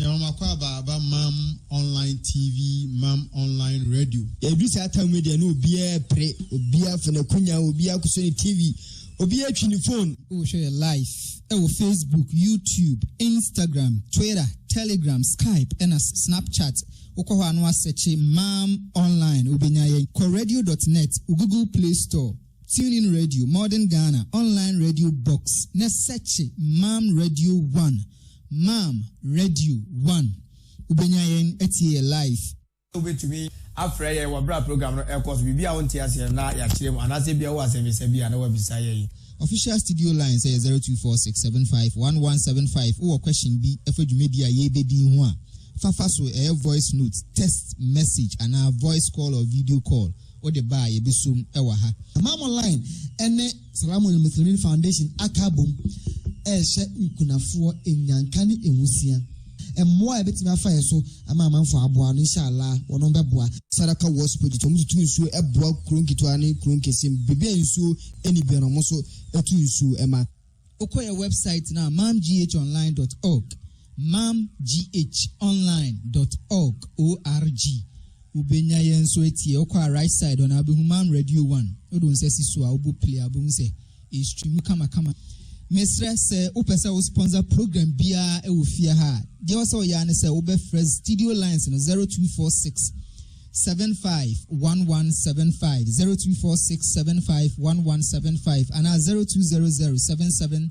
Nyawomakɔ aba aba mam online TV mam online radio. Edu saa tam mu deɛ na obiara repere, obiara afa n'akunya, obiara akosɔ ne TV, obiara atwi ne fon. Wohwɛ yɛ live ɛwɔ Facebook, YouTube, Instagram, Twitter, Telegram, Skype ɛna Snapchat. Wokɔ hɔ a na woasɛkye mam online wobɛnya yɛn. Kɔ radio dot net, wo Google Play Store, TuneIn Radio, Modern Ghana, Online Radio Box na sɛkye mam radio one. Maam radio one wobenya yɛn atie yɛ live. Wobɛtumi afrɛ yɛn wɔ berɛ a program no ɛrekɔ so. Biribi a wonte aseɛ na yɛakyerɛ mu anaasɛ ebia wowɔ asɛmmisa bi a na woabisa yɛn. Official studio lines yɛ zero two four six seven five one one seven five. Wowɔ question bi fa dwumadi a yɛrebɛdi yi ho a, fa fa so. Ɛyɛ voice note, text message anaa voice call or video call wode ba a yɛbɛsom wɔ ha. Maam online ne. Saramun Muslimin Foundation aka abom rehyɛ nkunafoɔ nnyanka ne nwusia. Mmoa a yɛbɛtumi afa yɛ so ama amanfoɔ aboa no, Insha Allah, wɔnom bɛboa. Saraka Works Project, wɔn tutu nsuo boa kuro nketewa ne kuro nkɛseɛ mu, baabi a nsuo nni biara no, wɔn nso tu nsuo ma. Wokɔ yɛn wɛbsaet no a, mamghonline dɔt ɔg, mamghonline dɔt ɔg, ORG, Wo benya yɛ nso atie wokɔ a right side hɔ na wo behu mam radio one wode wo nsa si so a wo bɔ play a wo behu sɛ e stream kama kama. Me srɛ sɛ wo pɛ sɛ wo sponsor program biara ɛwɔ fie ha a deɛ wɔ sɛ wo yɛ ara ne sɛ wo bɛ frɛ studio lines no zero two four six seven five one one seven five zero two four six seven five one one seven five anaa zero two zero zero seven seven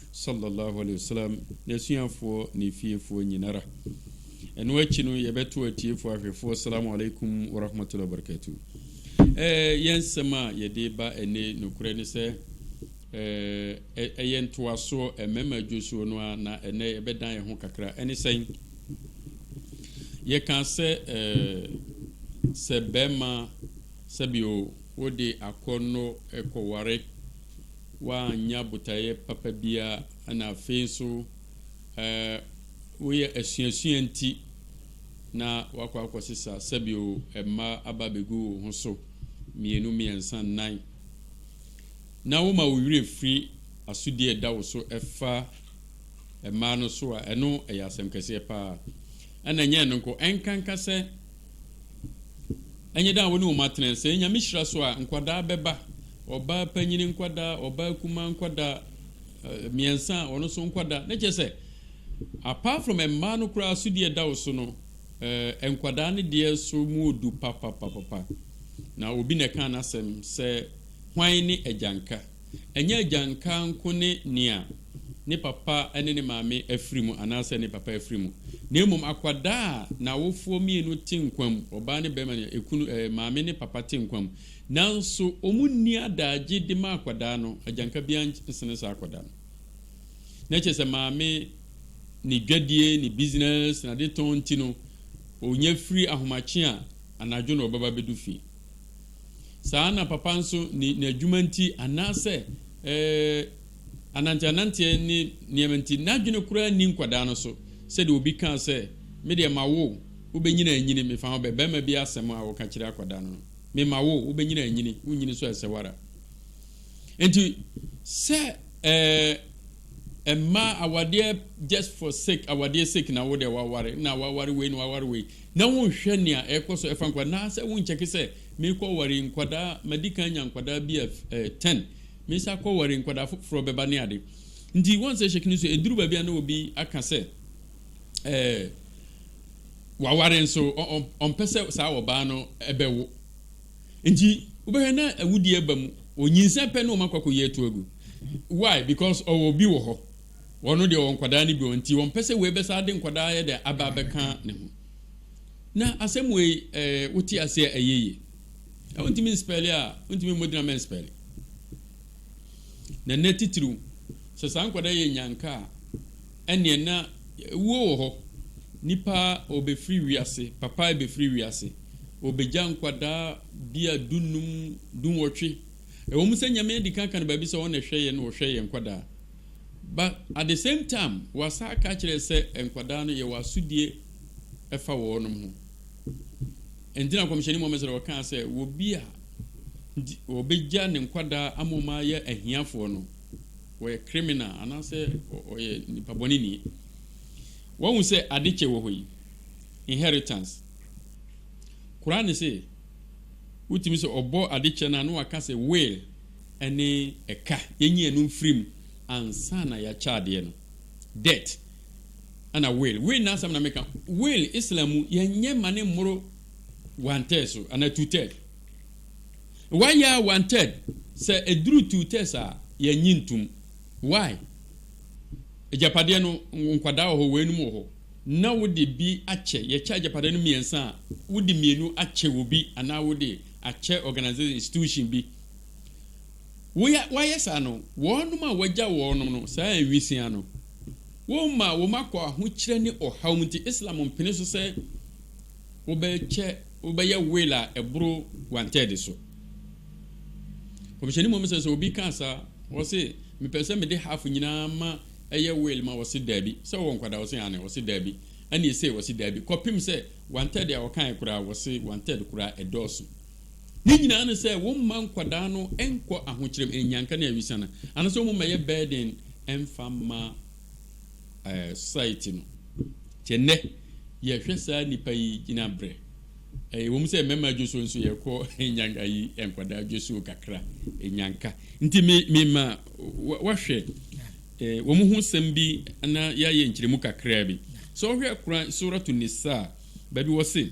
Salla llahu alaihi wasallam, n'asuafoɔ, ne fiefoɔ nyinara. Ɛno akyi no, yɛbɛto atiefoɔ ahwɛfoɔ Assalamu alaikum wa rahmatullahi wa barakatuh. Ɛɛ, yɛn nsɛm a yɛde ba ɛnɛ nokorɛ ne sɛ, ɛɛ, ɛyɛ ntoasoɔ mmarima adwosuo no ara na ɛnɛ yɛbɛdan yɛn ho kakra. Ɛne sɛn? Yɛkaa sɛ, ɛɛ, sɛ barima sɛbio wode akɔnnɔ kɔware Woannya botaeɛ papa biara, na afei nso woyɛ asuasua nti na woakɔ akɔsesa sɛbio mma aba abɛgu wo ho so, mmienu, mmiɛnsa, nnan, na woma wo werɛ firi asodie a ɛda wo so ɛfa mmaa no so a, ɛno yɛ asɛm kɛseɛ pa ara. Ɛna ɛnyɛ ɛno nko, ɛnkanka sɛ Ɛnyɛ dɛ a wo ne wɔn atena. Sɛ Nyame hyira so a, nkwadaa bɛba, ɔbaa panyin nkwadaa, ɔbaa kumaa nkwadaa, mmiɛnsa a, wɔn nso nkwadaa. Na kyerɛ sɛ, apart from mmaa no koraa so deɛ ɛda wo so no, eh, nkwadaa no deɛ nso mu odu papapapapa. Na obi na ɛkaa n'asɛm sɛ, Hwan ne agyanka? Ɛnyɛ agyanka nko ne nea ne papa ne ne maame afiri mu anaasɛ ne papa afiri mu, na mmom akwadaa a n'awofoɔ mmienu te nkwa mu, ɔbaa ne barima ne ekunu, ɛɛ, maame ne papa te nkwa mu, nanso wɔnni adaagye de ma akwadaa no, agyanka biara nsene saa akwadaa no. Na kyerɛ sɛ maame ne dwadie, ne business, n'adetɔn nti no, ɔnya firi ahomakye a anadwo na ɔbɛba abɛdu fie. Saa ara na papa nso ne n'adwuma nti anaasɛ ananteananteɛ ne nneɛma nti, n'adwene koraa nni nkwadaa no so. Sɛdeɛ obi kaa sɛ, Me deɛ mawo wo, wobɛnyini anyini, mefa ho bɛ, barima bi asɛm a ɔka kyerɛ akwadaa no no. Mema wo, wobɛnyini anyini, wonyini so a ɛsɛ wo ara. Enti sɛ eh, mmaa awadeɛ just for sake, awadeɛ sake na wo deɛ waware, na waware wei na waware wei, na wonhwɛ nea ɛrekɔ so ɛfa nkwadaa anaasɛ wonkyɛke sɛ merekɔ ware nkwadaa madi kan nya nkwadaa bi a eh, ten mesa akɔ ware nkwadaa foforɔ bɛba ne ade nti wɔn sɛ hyɛke no so ɛduru baabi a na obi aka sɛ eh, waware nso ɔmpɛ sɛ saa ɔbaa no ɛbɛwo nti wobɛhwɛ na awudie ba mu ɔnyinsɛn pɛ ne ɔma kwakɔ yi atu agu why because ɔwɔ bi wɔ hɔ Wɔn deɛ wɔwɔ nkwadaa no bi wɔ nti wɔmpɛ sɛ wei bɛsan de nkwadaa ayɛ dɛ aba abɛka ne ho. Na asɛm wei eh, wote ase a ɛyɛ yie. Na wontumi nspɛle a wontumi mmɔ din a mɛnspɛle. Na nnɛ titiriw sɛ saa nkwadaa yɛ nyanka a ɛneɛ na wuo wɔ hɔ. Nipa ɔbɛfiri wiase, papa ɛbɛfiri wiase, ɔbɛgya nkwadaa bi a dunnum, dunwɔtwe. Ɛwɔ mu sɛ Nyame adi kan ka no baabi sɛ ɔna ɛhwɛ yɛn na ɔhwɛ yɛn nkwadaa. but at the same time wasa aka kyerɛ sɛ nkwadaa no yɛwɔ asodie ɛfa wɔnom ho ɛnti na kɔmhyɛni Muhammad sɛ ɔkaa sɛ wɔ bi a wɔbɛgya ne nkwadaa ama wɔn ayɛ ahiafoɔ no wɔyɛ criminal anaasɛ ɔyɛ nipa bɔne ni wɔn ho sɛ ade kyɛ wɔ hɔ yi inheritance koraa ne sɛ wotumi sɛ ɔbɔ ade kyɛ no a na waka sɛ will ne ɛka, yɛnyi ɛno mfiri mu ansa na yɛakyɛ adeɛ no, debt, ɛna will, will no asɛm na meka, will Islam mu yɛnyɛ ma ne mmoro one third so anaa two third, wayɛ a one third, sɛ ɛduru two thirds a yɛnye ntom, why? Agyapadeɛ no nkwadaa wɔ hɔ, weinom wɔ hɔ, na wode bi akyɛ, yɛkyɛ agyapadeɛ no mmiɛnsa a, wode mmienu akyɛ obi anaa wode akyɛ organisation, institution bi, Woya, wɔayɛ saa no, wɔnom a wɔagya wɔnom no, saa nwisiaa no, wɔma wɔn akɔ ahokyerɛ ne ɔhaw mu nti, Islam mpene so sɛ wobɛkyɛ, wobɛyɛ will a ɛboro wanted so. Kɔmhyɛni Muhammad sɛ sɛ obi kaa saa, ɔse, mepɛ sɛ mede half nyinaa ma ɛyɛ will ma ɔse daabi, sɛ ɔwɔ nkwadaa ɔse aane, ɔse daabi, ɛne ɛsei ɔse daabi, kɔpem sɛ wanted a ɔkaeɛ koraa, ɔse wanted koraa ɛdɔɔso. Ne nyinaa ne sɛ wɔmma nkwadaa no nkɔ ahokyerɛm nnyanka ne awisana anaasɛ wɔn mmɛyɛ burden mfa mma ɛɛ society no. Te nnɛ yɛhwɛ saa nnipa yi gyina brɛ. Ɛyɛ wɔn sɛ mmarima dwosuo nso yɛkɔ nyanka ayi nkwadaa dwosuo kakra nyanka. Nti me me ma wahwɛ ɛɛ wɔn ho sɛm bi na yɛayɛ nkyerɛmu kakraa bi. Sɛ ɔhwɛ Koran Suratu Nisa baabi wɔ se.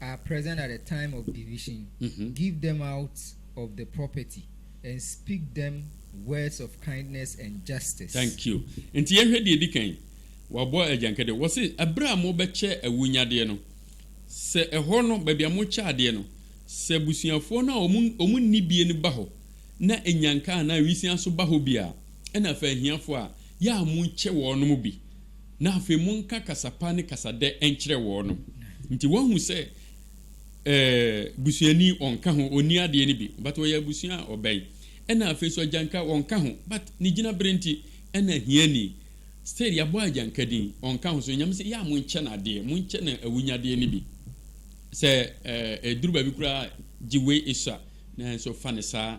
are present at the time of division, give them out of the property and speak them words of kindness and justice. Thank you. Nti yɛhwɛ deɛ ɛdi kan. Wabɔ agyankɛdeɛ. Wɔse ɛberɛ a mobɛkyɛ awunyadeɛ no, sɛ ɛhɔ no, baabi a mokyɛ adeɛ no, sɛ abusuafoɔ no a wɔn wɔn nni bie no ba hɔ na nyanka anaa nwisiaa nso ba hɔ bi a, ɛna fa ahiafoɔ a yɛ a monkyɛ wɔnom bi, na afei monka kasa pa ne kasa dɛ nkyerɛ wɔnom. Nti woahu sɛ eh, busuani ɔnka ho, ɔnni adeɛ no bi, but ɔyɛ abusua a ɔbɛn. Ɛna afei nso agyanka ɔnka ho, but ne gyinaberɛ nti ɛna ahiani. Still yɛabɔ agyanka din, ɔnka ho. So Nyame se yɛ a monkyɛ no adeɛ, monkyɛ no awunyadeɛ no bi. Sɛ eh, ɛduru baabi koraa a gye wei sua, nanso fa no saa.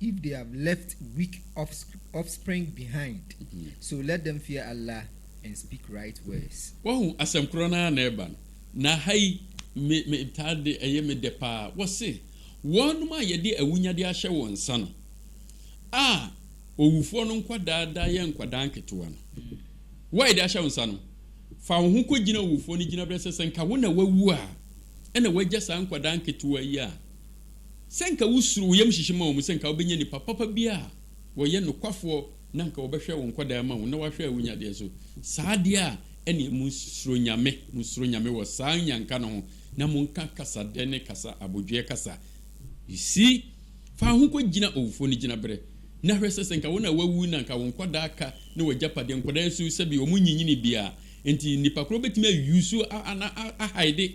if they have left weak offspring behind, so let them fear Allah and speak right words. Wahu, asɛm korɔ no ara na ɛba no, na ha yi me me taa de ɛyɛ me dɛ paa, wɔse, Wɔnom a yɛde awunyadeɛ ahyɛ wɔn nsa no, a owufoɔ no nkwadaa da yɛ nkwadaa nketewa no, wo a yɛde ahyɛ wo nsa no, fa wo ho kɔgyina owufoɔ no gyinaberɛ sɛ sɛ nka wo na wawu a, ɛna wagya saa nkwadaa nketewa yi a, Sɛ anka wusuro wo yam hyehye ma wɔn sɛ anka wobɛnya nnipa papa bi a wɔyɛ nokwafoɔ na anka wɔbɛhwɛ wo nkwadaa ama wo na wɔahwɛ wo nyadeɛ so saa adeɛ a, ɛnneɛ monsuro Nyame, monsuro Nyame wɔ saa nnyanka no ho na monka kasa dɛ ne kasa abodweɛ kasa. You see? Fa ho kɔgyina owufoɔ no gyinaberɛ na hwɛ sɛ sɛ anka wo na woawu na anka wo nkwadaa ka ne w'agyapadeɛ, nkwadaa yi nso sɛbi wɔnyinyinii biara nti nnipa korɔ bɛtumi a use wo a na a hide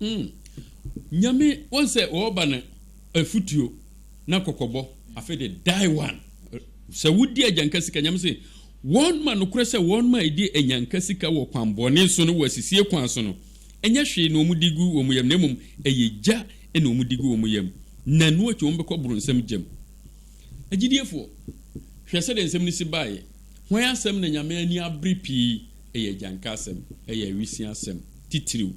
Mm Nyame wɔn sɛ wɔɔba no afutuo na kɔkɔbɔ afei de die one sɛ wodi agyanka sika Nyame se wɔn ma nokorɛ sɛ wɔn ma edi anyanka sika wɔ kwan bɔne so no wɔ asisie kwan so no ɛnyɛ hwee na wɔn di gu wɔn yam na mmom ɛyɛ gya na wɔn di gu wɔn yam na ɛno akyi wɔn bɛkɔ boronsam gyam Agyidiefoɔ hwɛ sɛdeɛ nsɛm no si baeɛ hwan asɛm na Nyame ani abere pii ɛyɛ agyanka asɛm ɛyɛ awisia asɛm. titiriw.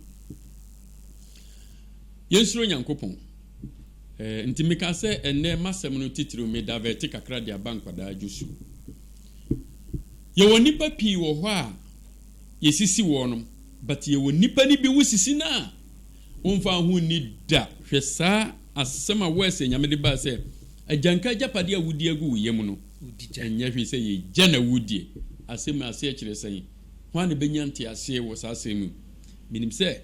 Yɛnsuro Nyankopɔn. Ɛɛ, nti meka sɛ ɛnnɛ m'asɛm no titiriw me davɛɛte kakra de aba nkwadaa dwo su. Yɛwɔ nnipa pii wɔ hɔ a yɛsisi wɔnom, but yɛwɔ nnipa no bi wosisi no a womfaa ho nni da. Hwɛ saa asɛm a wɔɛsɛ Nyame de baa sɛ, Agyanka agyapadeɛ a wodi agu wo yam no, ɛnyɛ hwee sɛ yɛgya na wudie. Asɛm mu aseɛ kyerɛ sɛn? Hwan na obenya ntease wɔ saa asɛm yi mu? Minim sɛ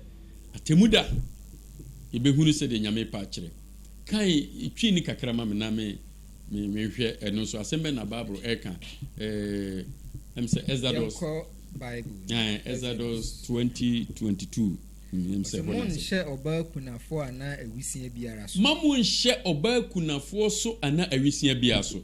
atemmu da yebehunu sɛdeɛ Nyame repɛ akyerɛ. Kae, twi nne kakra ma me na me, me, menhwɛ ɛno nso. Asɛm bɛn na Bible reka? Ɛɛ, ɛm sɛ Exodus. Yɛnkɔ Bible mu. Ɛɛ, Exodus 20:22. Hmm, ɛm sɛ Ɔsɛ ɛhɔ na ɛsɛ. monnhyɛ ɔbaa kunafoɔ anaa awisiaa biara so. Mma monnhyɛ ɔbaa kunafoɔ so anaa awisiaa biara so.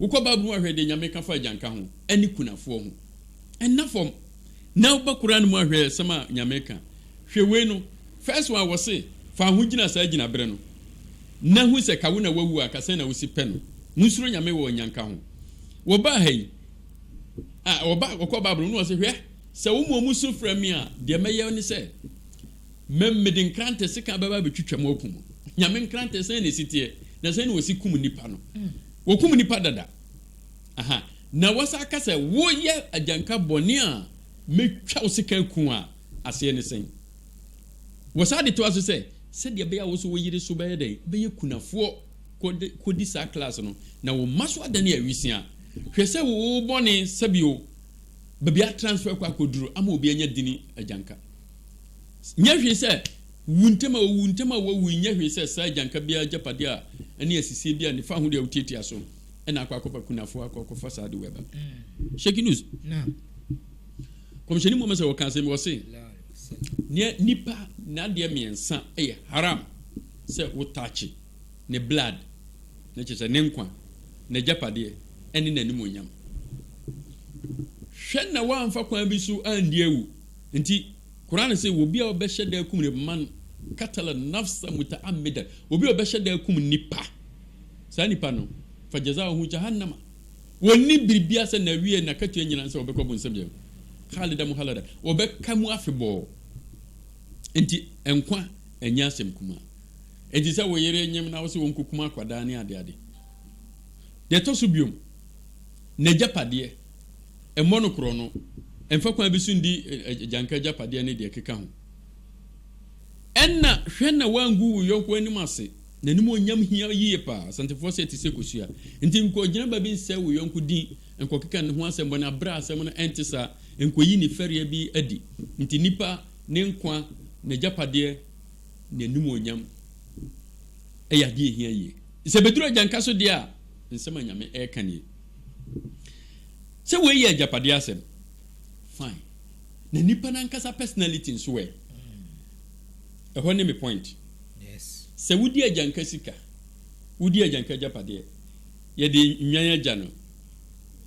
Wokɔ Bible mu a hwɛ deɛ Nyame ka fa agyanka ho ɛne kunafoɔ ho. Ɛnna fam. Na woba Qur'aan mu a hwɛ asɛm a Nyame ka. Hwɛ wei no, first one wɔse fa wo ho gyina saa gyinaberɛ no na hu sɛ ka wo na wawu a ka sɛn na wosi pɛ no. Monsuro Nyame wɔ anyanka ho. Wɔbaa ha yi a wɔba wɔkɔ Bible mu na wɔse hwɛ sɛ wo mmom musu frɛ me a deɛ mɛyɛ ne sɛ Me, mede nkrantɛ sekan bɛba abɛtwitwa mo aku mo. Nyame nkrantɛ, sɛn na ɛsi teɛ? Na sɛn na wɔsi kum nnipa no? Wɔkum nnipa dada. Aha. Na wɔsan ka sɛ, Woyɛ agyanka bɔne a mɛtwa wo sekan aku wo a, aseɛ ne sɛn? Wɔsan de toa so sɛ, Sɛdeɛ ɛbɛyɛ a wo nso wo yere so bɛyɛ dɛn? Bɛyɛ kunafoɔ kɔde, kɔdi saa class no, na wo mma so adane awisiaa. Hwɛ sɛ wo bɔne, sɛbio, baabi a transfer kɔ akɔduru ama obi anya dini agyanka. Nyɛ hwee sɛ wu ntɛm a wowu ntɛm a wɔawu yi nyɛ hwee sɛ saa agyanka biara agyapade a ɛne asisie biara nni fa ho de awutiatia so na akɔ akɔfa kunafo akɔ akɔfa saa de wɛba. Shake news. Kɔmhyɛni Muhammad sɛ wɔka asɛm bi wɔse nea nipa n'adeɛ mmiɛnsa yɛ haram sɛ wotakye ne blood na kyerɛ sɛ ne nkwa, n'agyapadeɛ ɛne n'animuonyam. Hwɛ na wɔamfa kwan bi so andi awu. Enti, Qur'aan se, Obi a ɔbɛhyɛ da akum nipa, man qatala nafsa muta'ammidan, obi a ɔbɛhyɛ da akum nipa, saa nipa no, fajazauhu Jahannama, onni biribiara sɛ n'awieɛ, n'akatua nyinaa ne sɛ ɔbɛkɔ bonsam gya mu, khalidan muhalladan, ɔbɛka mu afebɔɔ. Enti, nkwa nyɛ asɛm kumaa. Enti sɛ wo yere nyem na wose ɔnkɔkum akwadaa ne adeade. Deɛ ɛtɔ so biom, n'agyapadeɛ. Mmɔ no korɔno. Mfa kwan bi so ndi agyanka agyapadeɛ ne deɛ ɛkeka ho. Ɛnna hwɛ na woangu wo yɔnko anim ase. N'animuonyam hia yiye paa. Asantefoɔ se ɛte sɛ kosua. Enti nkɔgyina baabi nsɛe wo yɔnko din, nkɔkeka ne ho asɛm bɔne, bere a asɛm no ɛnte saa. Nkɔyi ne fɛreɛ bi adi. Enti nnipa, ne nkwa, n'agyapadeɛ, n'animuonyam yɛ adeɛ a ɛhia yiye. Sɛ ɛbɛduru agyanka so deɛ a, nsɛm a Nyame reka nie. Sɛ wei yɛ agyapadeɛ asɛm fine na nipa nankasa personality nso ɛ? Ɛhɔ ne me point. Sɛ wodi agyanka sika, wodi agyanka agyapadeɛ, yɛde nnwan agya no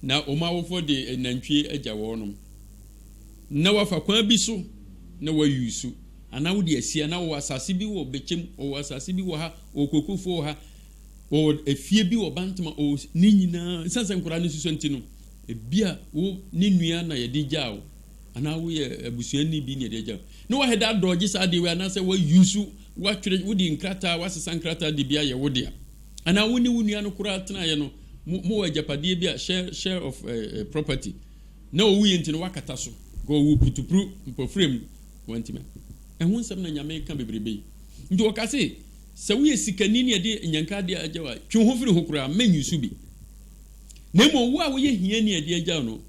na wɔn awofoɔ de nantwie agya wɔnom na wafa kwan bi so na wayusu anaa wode asia na wɔwɔ asase bi wɔ bɛkyɛm, wɔwɔ asase bi wɔ ha, wɔwɔ kokofoɔ wɔ ha, Ɔwɔ efie bi wɔ Bantama o, ne nyinaa esiane sɛ nkwadaa no nso sua nti no, ebia wo ne nua na yɛde gyaa wo, anaa woyɛ abusuani bi na yɛde agyaa wo. Na wahɛda adɔɔgye saa adeɛ wei anaasɛ wayusu, watwerɛ, wode nkrataa, wasesa nkrataa de bi ayɛ wo dea. Anaa wo ne wo nua no koraa tenaeɛ no, mo, mowɔ agyapadeɛ bi a, share, share of eh, eh, property, na ɔwuiɛ nti no wakata so, nka ɔwu putupru, mpɔfirem, wantumi a. Ɛho nsɛm na Nyame reka bebrebe yi. Nti wɔka se, Sɛ woyɛ sikani ne ɛde nnyanka ade agyaw a, twe wo ho firi ho koraa, mma nyi so bi. Na mmom wo a woyɛ hiani a ɛde agyaw no,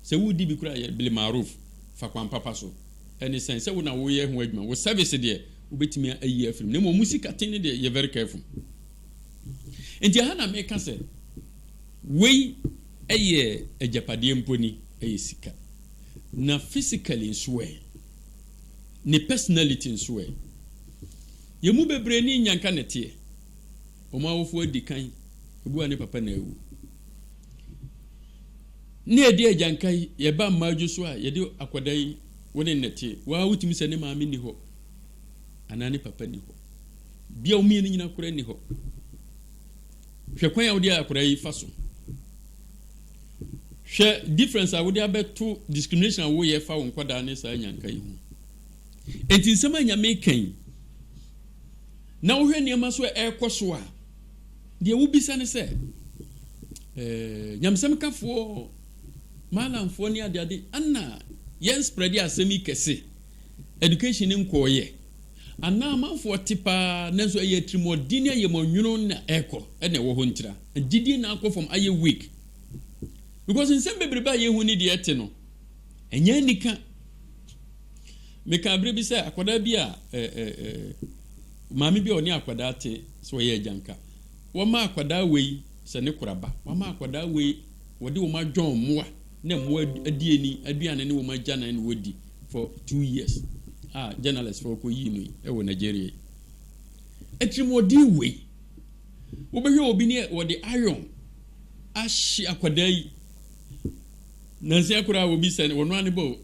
sɛ woredi bi koraa a, yɛ bil-ma'ruf, fa kwan papa so. Ɛne sɛn? Sɛ wo na woreyɛ ho adwuma, wo service deɛ, wobɛtumi ayi afiri mu, na mmom wo sikaten no deɛ, yɛ very careful. Enti ɛha na meka sɛ, wei yɛ agyapadeɛ mpo ni, ɛyɛ sika. Na physically nso ɛ? Ne personality nso ɛ? Yɛn mu bebree ne Nyanka na ɛteɛ. Wɔn awofo adi kan, obi a ne papa na awu. Na yɛde agyanka yi, yɛba mmaadwo so a, yɛde akwadaa yi, wo ne no na ɛteɛ. Wo ara wotumi sɛ ne maame nni hɔ anaa ne papa nni hɔ. Bia wɔn mmienu nyinaa koraa nni hɔ. Hwɛ kwan a wode akwadaa yi fa so. Hwɛ difference a wode abɛto discrimination a woyɛ fa wo nkwadaa ne saa nyanka yi ho. Enti nsɛm a Nyame reka yi, na wohwɛ nneɛma so a ɛrekɔ so a, deɛ wobisa ne sɛ, eh, nyamesɛmkafoɔ, maalamfoɔ ne adeade, ana yɛn spreade asɛm yi kɛse, education no nkɔɔyɛ? Anaa amanfoɔ te paa nanso ɛyɛ atirimuɔden ne ayɛmɔnwono na ɛrekɔ, ɛna ɛwɔ hɔ ntira? Gyidie na akɔ fam, ayɛ weak? Because nsɛm bebrebe a yɛhu ne deɛ ɛte no, Ɛnyɛ anika. Mekaa bere bi sɛ akwadaa bi a ɛ, ɛ, ɛ, maame bi a ɔne akwadaa te, sɛ ɔyɛ agyanka, wɔma akwadaa wei sɛ ne koraba, wɔama akwadaa wei, wɔde wɔn adwɔn mmoa na mmoa adi ani aduane ne wɔn agyanan na wɔadi for two years a journalist fo kɔyii no yi wɔ Nigeria yi. Atirimuɔden wei. Wobɛhwɛ obi ne wɔde iron ahye akwadaa yi. Nansa koraa wɔbisa no, ɔno ara ne bɔ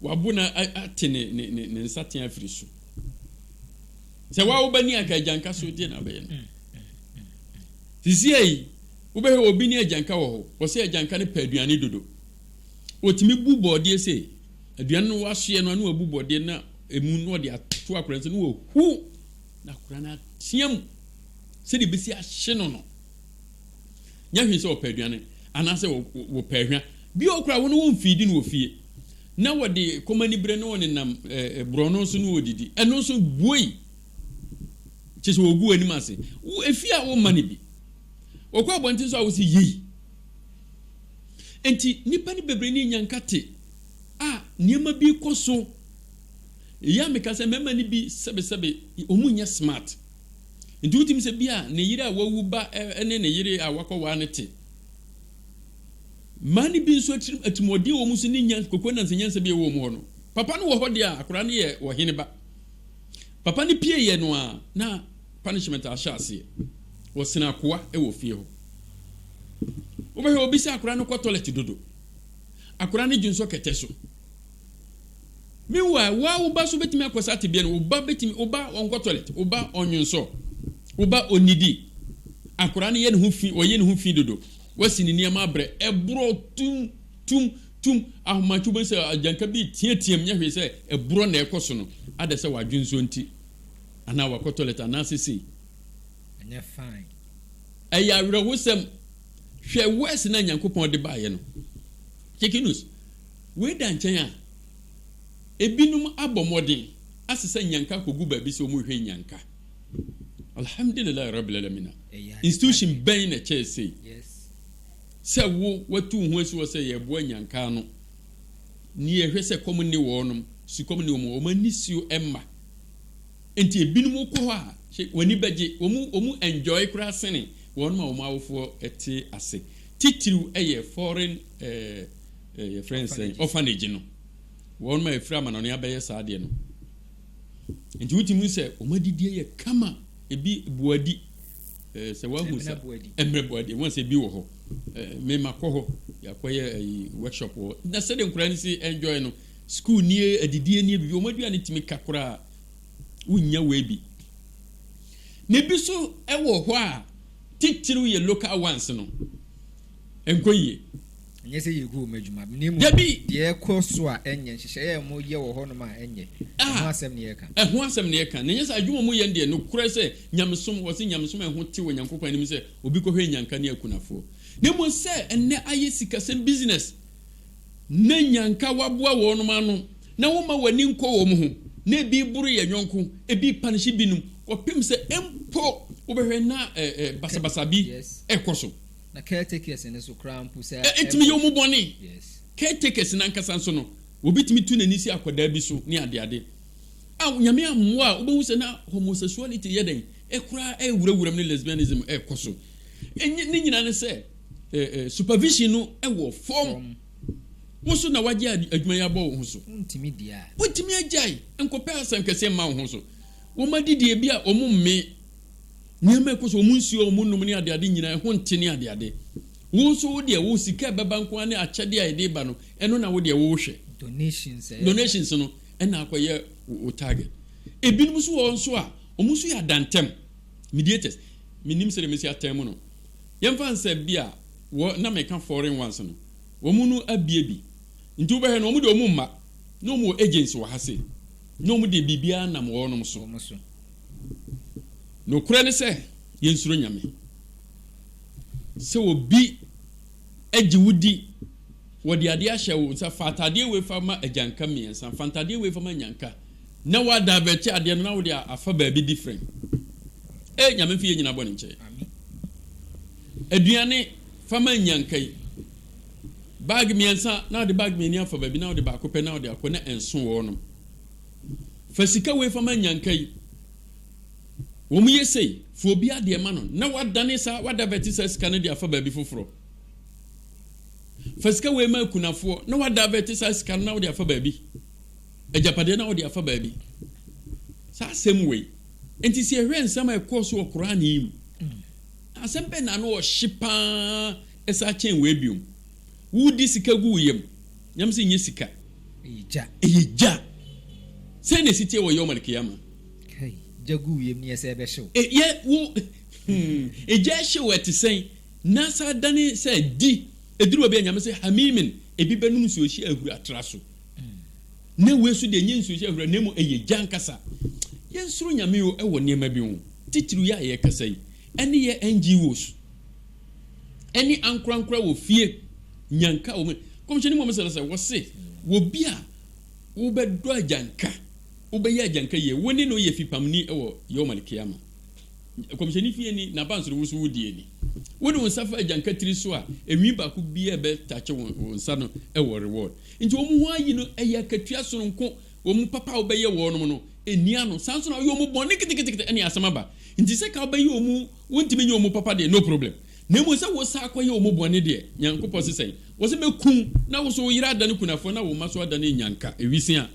wabo na ate ne ne ne ne nsatea afiri so. Sɛ wa woba ni anka agyanka so deɛ na abɛyɛ no. Sisi ayi wobɛhwɛ obi ne agyanka wɔ hɔ, wɔsɛ agyanka no pɛ aduane dodo. Wɔtumi bu bɔɔdeɛ sei, aduane no wasoɛ no ano abu bɔɔdeɛ na emu na ɔde ato akora nsa na wahu na akora no ateam sɛdeɛ ɛbɛsi ahye no no. Nyɛ hwee sɛ wɔpɛ aduane anaasɛ wɔpɛ ahwa. Bi wɔ hɔ koraa a, wɔn no wɔmfiidi no wɔ fie, na wɔde kɔm anibere ne wɔnenam borɔno so na wɔdidi. Ɛno nso, buei, kyerɛ sɛ wɔgu w'anim ase. Wo, efie a womma no bi. Wɔkɔ abɔnten nso a, wose yei. Enti, nnipa no bebree no nya nkate a nneɛma bi rekɔ so. Eyi a meka sɛ mmarima no bi sɛbesɛbe, wɔnyɛ smart. Enti wotumi sɛ bi a ne yere a wawu ba ne ne yere a wakɔware no te. Mmaa no bi nso atirim atirimuɔden wɔ wɔn so ne nya kokoa nansa nyansa bi a ɛwɔ wɔn hɔ no. Papa no wɔ hɔ deɛ a akwadaa no yɛ ɔhene ba. Papa no pie yɛ no a na punishment ahyɛ aseɛ. Wɔsene akoa wɔ fie hɔ. Wobɛhwɛ obi sɛ akwadaa no kɔ toilet dodo. Akwadaa no dwonsɔ kɛtɛ so. Meanwhile, wo ara wo ba nso betumi akɔ saa tebea no mu. Wo ba betumi, wo ba ɔnkɔ toilet, wo ba ɔnnwonsɔ, wo ba onnidi. Akwadaa no yɛ ne ho fi, ɔyɛ ne ho fi dodo. Wasi ne nneɛma abrɛ, ɛborɔ tum, tum, tum. Ahomakye wobɛhu sɛ agyanka bi reteateam, nyɛ hwee sɛ ɛborɔ na ɛrekɔ so no. Ada sɛ wadwonsɔ nti, anaa wakɔ toilet, anaasɛ sei. Ɛnyɛ fine. Ɛyɛ awerɛhosɛm. Hwɛ wɛse no a Nyankopɔn de baeɛ no. Chickie Noose. Wei da nkyɛn a, ebinom abɔ mmɔden asesa nnyanka akogu baabi sɛ wɔrehwɛ nnyanka. Alhamdulilaah Rabbil Alamina. Institution bɛn na ɛkyɛɛ sei? Sɛ wo, woatu wo ho asi hɔ sɛ yɛreboa nnyanka ano, na yɛhwɛ sɛ kɔm nne wɔnom, sukɔm nne wɔn, wɔn ani suo mma. Enti ebinom wokɔ hɔ a, hwɛ, w'ani bɛgye. Wɔn, wɔn enjoy koraa sene wɔnom a wɔn awofoɔ te ase. Titiriw yɛ foreign eh, Eh, yɛfrɛ no sɛn? Orphanage no. Wɔn ma ɛfiri amanɔne abɛyɛ saa deɛ no. Nti wotumi sɛ wɔn adidie yɛ kama, ebi boadi. Eh, sɛ wahu sa mmerɛ boadi, wɔn sɛ ebi wɔ hɔ. Eh, mema kɔ hɔ, yɛakɔyɛ ayi eh, workshop wɔ. Na sɛdeɛ nkora no si enjoy no, school nie, adidie nie, bibi, wɔn aduane tumi ka koraa, wonnya wei bi. Na ebi so ɛwɔ hɔ a, titiriw yɛ local ones no, ɛnkɔ yie. Ɛnyɛ sɛ yɛgu wɔn adwuma na mmom deɛ ɛkɔ so a ɛnyɛ nhyehyɛeɛ a wɔyɛ wɔ hɔnom a ɛnyɛ ɛho asɛm na yɛka. Ɛho asɛm na yɛka na ɛnyɛ sɛ adwuma a wɔyɛ no deɛ nokorɛ sɛ nyamesom wɔse nyamesom a ɛho tew Onyankopɔn anim sɛ obi kɔhwɛ nnyanka ne akunafoɔ na mmom sɛ ɛnnɛ ayɛ sikasɛm business na nnyanka woaboa wɔnom ano na womma w'ani nkɔ wɔn ho na ebi boro yɛn yɔnko ebi panehye binom kɔpem sɛ mpo wobɛhwɛ na basabasa bi rekɔ so. Na caretakers no so koraa mpo saa ɛmma o. Ɛtumi yɛ wɔn bɔne. Yes. Caretakers no ankasa nso no, obi tumi tu n'ani si akwadaa bi so ne adeade. A Nyame ammoa a, wobɛhu sɛ na homosexuality yɛ dɛn? Ɛkoraa ɛrewura wuram ne lesbianism ɛrekɔ so. Ɛnyɛ, ne nyinaa ne sɛ ɛ, ɛ, supervision no ɛwɔ fam. Fam. Wo so na woagye ad, adwuma yi abɔ wo ho so. Wontumi di a. Wontumi agyae nkɔpɛ asɛnkɛseɛ mma wo ho so. Wɔn adidie bi a wɔn mmee. Nneɛma a ɛkɔ so, wɔn nsuo a wɔnom ne adeade nyinaa, ɛho nte ne adeade. Wo nso wo deɛ, wo sika a ɛbɛba nko ara ne akyɛdeɛ a ɛde reba no, ɛno na wo deɛ worehwɛ. Donations a ɛba. Donations no na akɔyɛ wo target. Ebinom nso wɔ hɔ nso a, wɔn nso yɛ adantam, mediators. Mennim sɛdeɛ mɛsi atɛn mo no. Yɛmfa no sɛ bi a, wɔ, na meka foreign ones no, wɔn no abue bi. Nti wobɛhwɛ no, wɔn deɛ wɔn mma, na wɔn wɔ agents wɔ ha sei, na wɔn deɛ biribiara nam wɔnom so. Wɔn so. Nokorɛ ne sɛ, yɛnsuro Nyame. Sɛ obi gye wo di, wɔde adeɛ ahyɛ wo nsa, fa ataadeɛ wei fa ma agyanka mmiɛnsa, fa ntaadeɛ wei fa ma nyanka, na woadaavɛɛte adeɛ no na wode afa baabi difrɛn. Ei, Nyame mfa yɛn nyinaa bɔne nkyɛ yɛn. Aduane, fa ma nyanka yi. Bag mmiɛnsa, na wode bag mmienu afa baabi, na wode baako pɛ na wode akɔ, na ɛnso wɔnom. Fa sika wei fa ma nyanka yi. Wɔn yɛ sei, fa obi adeɛ ma no na wadane saa, wadavɛte saa sika no de afa baabi foforɔ. Fa sika wei ma akunafoɔ na wadavɛte saa sika no na wode afa baabi. Agyapadeɛ na wode afa baabi. Saa asɛm wei. Nti sɛ yɛhwɛ nsɛm a ɛkɔɔ so wɔ Korane yi mu, asɛm bɛn na ano ɔhye paa ɛsa kyɛn wei biom? Wodi sika gu wo yam. Nyamesom nyɛ sika. Ɛyɛ gya. Ɛyɛ gya. Sɛn na ɛsi teɛ wɔ Yawm al-Qiyamah? Kai, gya gu wiem ne yɛ sɛ ɛbɛhyew. E, yɛ, wo, hmm, e, gya hyew a ɛte sɛn? Na sɛ adane sɛ, di, ɛduru baabi a Nyame se, Hamiimin, ebi bɛnom nsuohyeɛ ahuro atra so. Na wei so deɛ ɛnyɛ nsuohyeɛ ahuro na mmom ɛyɛ gya ankasa. Yɛnsuro Nyame o ɛwɔ nneɛma bi ho, titiriw yɛ a yɛrekasa yi, ɛne yɛ NGOs. ɛne ankorankora wɔ fie, nyanka wɔ mu. Kɔmhyɛni Muhammad sallallahu alaihi wasallam sɛ, wɔ bi a wobɛdɔ agyanka, wobɛyɛ agyanka yie, wo ne no yɛ fipamni wɔ Yawm al-Qiyamah. Kɔmhyɛni fie ni, n'abanso no, wo nso wo die ni. Wode wo nsa fa agyanka tiri so a, enwi baako bi a ɛbɛtakye wo wo nsa no wɔ reward. Nti wɔn ho ayi no, ɛyɛ akatua sononko. Wɔn papa a wobɛyɛ wɔnom no, enni ano. Saa nso na woyɛ wɔn bɔne ketekete ne asɛm aba. Nti sɛ ka wobɛyɛ wɔn Wontumi nyɛ wɔn papa deɛ no problem, na mmom sɛ wo san kɔyɛ wɔn bɔne deɛ, Nyankopɔn se sɛn? Ɔse, Mɛku wo, na wo nso wo yere adane kunafoɔ, na wo mma nso adane nnyanka, ɛwisi a.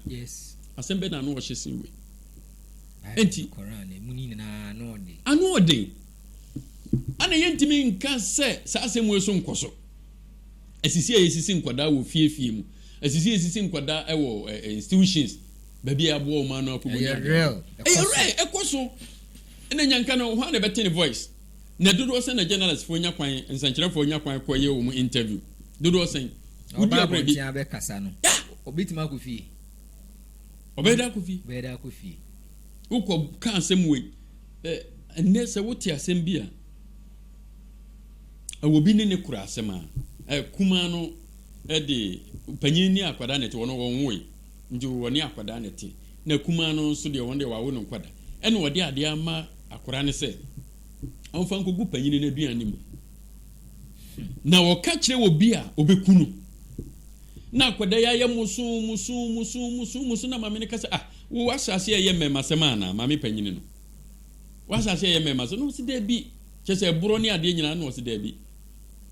Asɛm bɛn na ano ɔhye sen wei? Ɛnti, ano ɔden. Ana yɛntumi nka sɛ saa asɛm wei so nkɔ so? Asisi a yɛsisi nkwadaa wɔ fie fie mu, asisi a yɛsisi nkwadaa ɛwɔ eh, eh, institutions, baabi a yɛaboa wɔn ano akɔbɔ ne adeɛ. Ɛyɛ real, ɛkɔ so. Ɛna nya nka no hwan na ɛbɛte ne voice? Na dodoɔ sɛn na journalist foɔ nya kwan, nsɛnkyerɛfoɔ nya kwan kɔ yɛ wɔn interview? Dodoɔ sɛn? Na Wodi ɔba abrɛ bi. abɔnten abɛkasa no, Yeah! ɔbɛtumi akɔ fie? Ɔbɛyɛ dɛ akɔ fie. Ɔbɛyɛ dɛ akɔ fie. Wokɔ ka asɛm wei. Ɛ, ɛnnɛ sɛ wote asɛm bi a, ɛwɔ obi ne ne kora asɛm a, ɛ, kumaa no de, panyin ne akwadaa na ɛte, wɔn no wɔnwoe, nti wɔne akwadaa na ɛte. Na akumaa no nso deɛ, ɔno deɛ wɔawo no nkwadaa. Ɛna ɔde adeɛ ama akwadaa no sɛ ɔmfa nkɔgu panyini no aduane no mu. Na ɔka kyerɛ obi a, ɔbɛku no. Na akwadaa yi ayɛ mosoo mosoo mosoo mosoo mosoo na maame no ka sɛ, ah, wo w'ahyɛase ɛyɛ mmɛɛmasɛm anaa? Maame panyini no. W'ahyɛase ɛyɛ mmɛɛmasɛm? Na ɔse daabi. Kyerɛ sɛ ɛborɔ ne adeɛ nyinaa na ɔse daabi.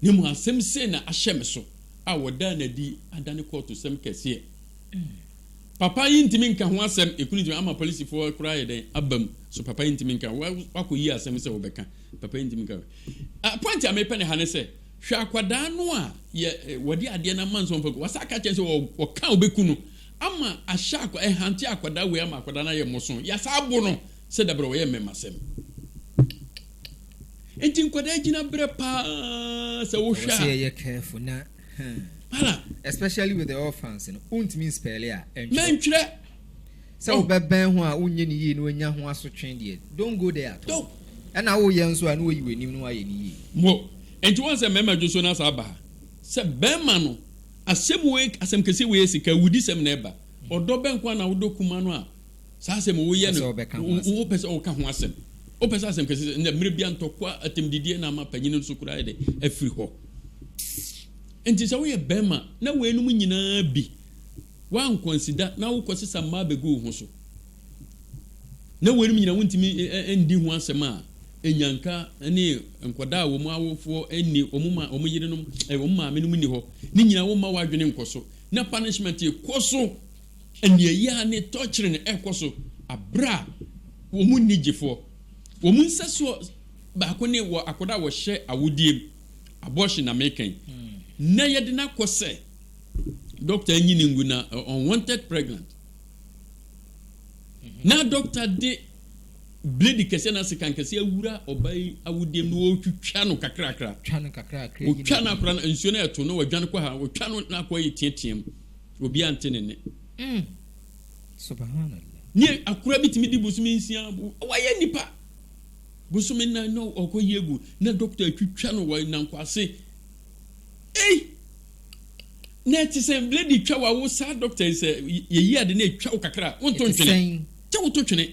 Na mmom asɛm sei na ahyɛ me so a wɔdaa no adi adane kɔɔtosɛm kɛseɛ. Papa yi ntumi nka ho asɛm ekunu ntumi ama polisifo koraa ayɛ dɛn aba mu so papa yi ntumi nka wakɔ yi asɛm sɛ wɔbɛka papa yi ntumi nka uh, point a mepɛ ne ha ne sɛ hwɛ akwadaa no a yɛ eh, wɔde adeɛ no ama nsɔmfa gu wasa aka kyɛn sɛ wɔka ɔbɛku no ama ahyɛ akwa ɛhante eh, akwadaa wei ama akwadaa no ayɛ mmɔso yasa abo no sɛ dabrɛ wɔyɛ mmɛmasɛm nti nkwadaa gyina berɛ paa sɛ wohwɛ a especially with the orphans no wontumi nspɛle a ɛntwerɛ sɛ oh. wobɛbɛn ho a wonyɛ ne yie na wanya ho asotwe deɛ don't go there at all ɛna woyɛ nso a na wayi w'anim no wayɛ ne yie mo nti wɔn sɛ mmarima dwo so no asa aba ha sɛ bɛrima no asɛm wei asɛm kɛse wei sika wudi sɛm na ɛba ɔdɔ bɛn kwan na wodɔ kuma no a Saa asɛm yi, woyɛ no, wopɛ sɛ woka ho asɛm. Wopɛ sɛ asɛm kɛse sɛ, ɛnna mmerɛ biara ntɔkwa, atɛmdidie na ama panyin no so koraa yɛ dɛ afiri hɔ. Enti sɛ woyɛ barima na weinom nyinaa bi woankɔnsida na wokɔsesa mmaa bɛgu wo ho so, na weinom nyinaa wontumi ndi ho asɛm a, nnyanka ne nkwadaa a wɔn awofoɔ nni, wɔn ma wɔn yerenom, wɔn maamenom nni hɔ, ne nyinaa womma w'adwene nkɔ so, na punishment kɔ so. Aniɛyaa ne tɔkyere na ɛrekɔ so bere a wɔn nni gyefoɔ. Wɔn nsɛsoɔ baako ne wɔ akwadaa a wɔhyɛ awodeɛ mu, abortion na meka yi, na yɛde no akɔ sɛ dɔkta nyi no ngu na unwanted pregnant. Na dɔkta de blade kɛseɛ na sekan kɛseɛ awura ɔbaa yi awodeɛ mu na wɔretwitwa no kakrakra. Wɔtwa no akora no nsuo no ɛto na wɔadwane kɔ ha, wɔtwa no na akɔ yɛ teateam. Obiara nte ne nne. Mm. Subhanallah. Ne akora bi tumi di bosome nsia bo. Wayɛ nipa. Bosome nan na ɔkɔ yi egu na dɔkta atwitwa no wɔ nankwase. Ei! Na ɛte sɛ blade twa wa wo saa dɔkta yi sɛ yɛyi ade na etwa wo kakra a wonto ntwene. Kyɛ woto twene.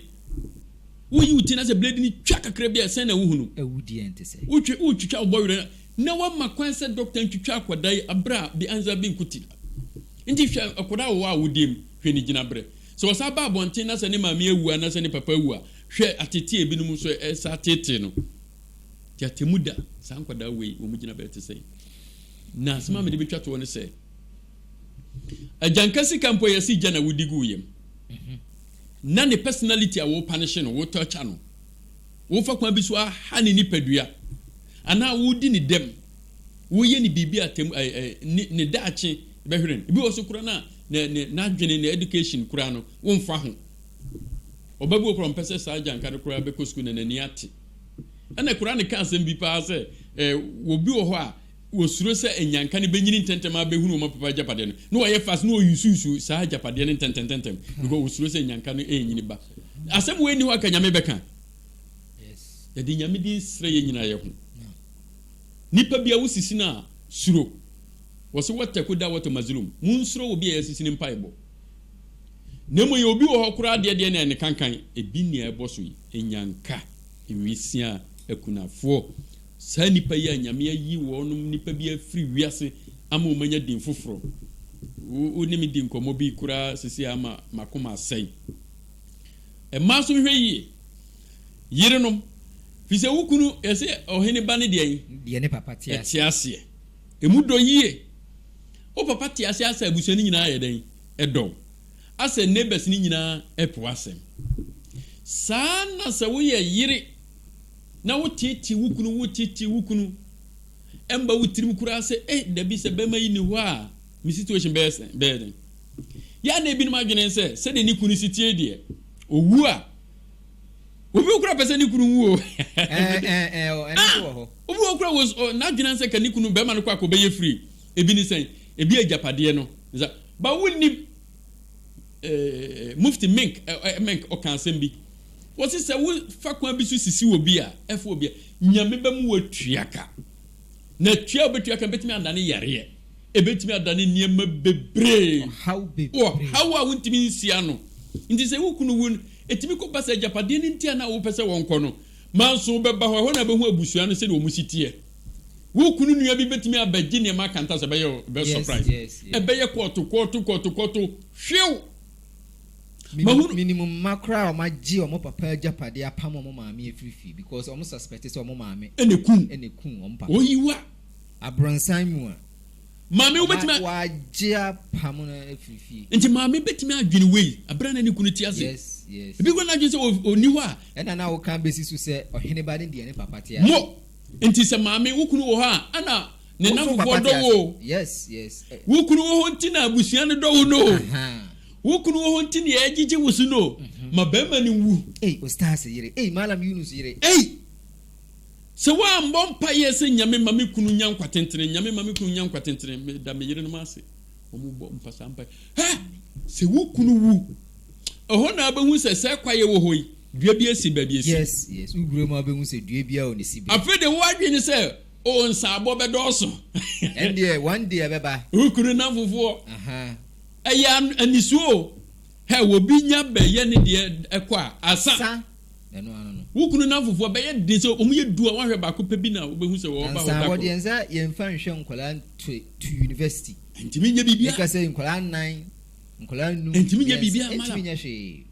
Woyi wo ti na sɛ blade no twa kakra bi a sɛn na wohunu. Awudie nte sɛ. Wotwe wotwitwa wo bɔwerɛ na wɔama kwan sɛ dɔkta ntwitwa akwadaa yi bere a bi ansa bi nko ti da. Enti hwɛ akwadaa a ɔwɔ awodeɛ mu, hwɛ ne gyinaberɛ. Sɛ ɔsan ba abɔnten na sɛ ne maame awu anaasɛ ne papa awu a, hwɛ atetee ebinom nso a ɛsa ateetee no. Enti atemmu da saa nkwadaa wei wɔn gyinaberɛ te sɛn? Na asɛm a mede bɛtwa toɔ ne sɛ, agyanka sika mpo a yɛse gya na wodi guu yam, na ne personality a wo panish no, wo torture no, Wofa kwan bi so ha ne nipadua anaa wodi ne dɛm, woyɛ no biribi a atem ɛɛ ne ne daakye bɛhwere no. Ebi wɔ so koraa no a ne ne n'adwene, ne education koraa no womfa ho. Ɔba bi wɔ hɔ koraa a ɔmpɛ sɛ saa agyanka no koraa bɛkɔ sukuu na n'ani ate. Ɛna koraa ne ka asɛm bi paa sɛ ɛɛ obi wɔ hɔ a wɔsuro sɛ anyanka no bɛnyini ntɛntɛm ara bɛhunu wɔn papa agyapadeɛ no, na wɔyɛ fast na wɔyusuusu saa agyapadeɛ no ntɛntɛntɛntɛm because wɔsuro sɛ anyanka no ɛrenyini ba. Asɛm wei nni hɔ aka Nyame bɛka. Yɛde Nyame din srɛ yɛ nyina yɛ ho. Nipa bia wosisi no a, suro. Wɔse wɔtɛko da wɔtɛ mazulum. Monsuro obi a yɛasisi no mpaebɔ. Na mmom yɛ obi wɔ hɔ koraa deɛ deɛ na ɛne kankan, ebi nea ɛbɔ so yi, anyanka, nwisiaa, akunafoɔ, Saa nnipa yi a Nyame ayi wɔnom nnipa bi afiri wiase ama wɔn anya din foforɔ. Wo, wo ne me di nkɔmmɔ bi koraa seesei a ama m'akoma asɛe. Mmaa nso nhwɛ yie. Yerenom, firi sɛ wo kunu, yɛse ɔhene ba no deɛ ɛn? Deɛ ne papa te aseɛ. Te aseɛ. Ɛmu dɔ yie. Wo papa te aseɛ asɛ abusua no nyinaa ayɛ dɛn? Ɛdɔ wo. Asɛ neighbors no nyinaa ɛpo w'asɛm. Saa ara na sɛ woyɛ yere. Na wo teetee wo kunu wo teetee wo kunu ɛmba wo tirim koraa sɛ ei dabi sɛ bɛma yi ni hɔ a me situation bɛyɛ sɛn bɛyɛ den yɛ a na ebinom adwene sɛ sɛdeɛ ne kunu si tie deɛ owu a obi wɔ koraa pɛ sɛ ne kunu wu o ah obi wɔ koraa wɔ n'adwene sɛ ka ne kunu bɛrima no kɔ akɔ bɛyɛ free ebi ne sɛn ebi agyapadeɛ no nsa ba wo nim eh, Mufti Mink, eh, eh, Mink ɔka asɛm bi. Wɔsi sɛ wo fa kwan bi so sisi wɔ bi a, ɛfo wɔ bi a, nyame bɛ mu wɔ tua ka. Na tua wɔ bɛtua ka bɛtumi ada ne yareɛ. Ɛbɛtumi ada ne nneɛma bebree. Ɔhaw bebree. Ɔhaw a wontumi nsia no. Nti sɛ wo kunu wu no, ɛtumi kɔ ba sɛ agyapadeɛ no nti a na wopɛ sɛ wɔnkɔ no. Manso bɛba hɔ, ɛhɔ na bɛhu abusua no sɛdeɛ wɔn si teɛ. Wo kunu nua bi bɛtumi abɛgye nneɛma akanta sɛ ɛbɛyɛ bɛ surprise. Ɛbɛyɛ kɔɔto kɔɔto kɔɔto kɔɔto hwew. Mahunu. Menim mma koraa a wɔn agye wɔn papa agyapadeɛ apam wɔn maame afiri fie because wɔn suspect sɛ wɔn maame ɛna ekum ɛna ekum wɔn papa. Oyiwa. Abronsan mu a. Maame wobɛtumi. Wagye apam no afiri fie. Nti maame bɛtumi adwene wei abira na ne kunu ti ase. Yes yes. Ebi kura n'adwene sɛ ɔni hɔ a. Ɛna na woka bɛsi so sɛ ɔheneba ne deɛ ne papa te ase. Mo. Nti sɛ maame wo kunu wɔ hɔ a ɛna ne nnamfofoɔ dɔ wo o. Wo kunu wɔ hɔ nti na abusua no dɔ wo no o. Wo kunu wɔ hɔ nti na yɛgyegye wo so no o. Ma barima no nwu. Ei Ostaz yere ei Malam Yunus yere ei. Sɛ woambɔ mpaeɛ sɛ Nyame ma me kunu nya nkwa tentene Nyame ma me kunu nya nkwa tentene meda me yerenom ase. Wɔbɔ mpa saa mpae. Hɛ! Sɛ wo kunu wu, ɛhɔ na abɛhu sɛ sɛ kwaeɛ wɔ hɔ yi, dua bi asi baabi asi. Yes, yes. Wo guram a wobɛhu sɛ dua biara wɔ ne sibea. Afei deɛ wo adwene ne sɛ, oh, nsaabɔ bɛdɔɔso. Ɛndeɛ, one day ɛbɛba. Wo kunu nnamfofoɔ. Ahaa. Ɛyɛ an, anisuo o. Hɛ, obi nya bɛyɛ ne deɛ ɛkɔ a, asa. Sa, Ɛno ano no. Wo kunu nnamfofoɔ ɛbɛyɛ den sɛ wɔyɛ du a wɔahwɛ baako pɛ bi na wobɛhu sɛ wɔba hɔ da koro. Nansa, wɔde yɛn nsa yɛmfa nhwɛ nkwadaa nto to yunivɛsiti. Ɛntumi nyɛ biribiara. Meka sɛ nkwadaa nnan, nkwadaa nnum, mmiɛnsa. Ɛntumi nyɛ biribiara mala. Ɛntumi nyɛ hwee.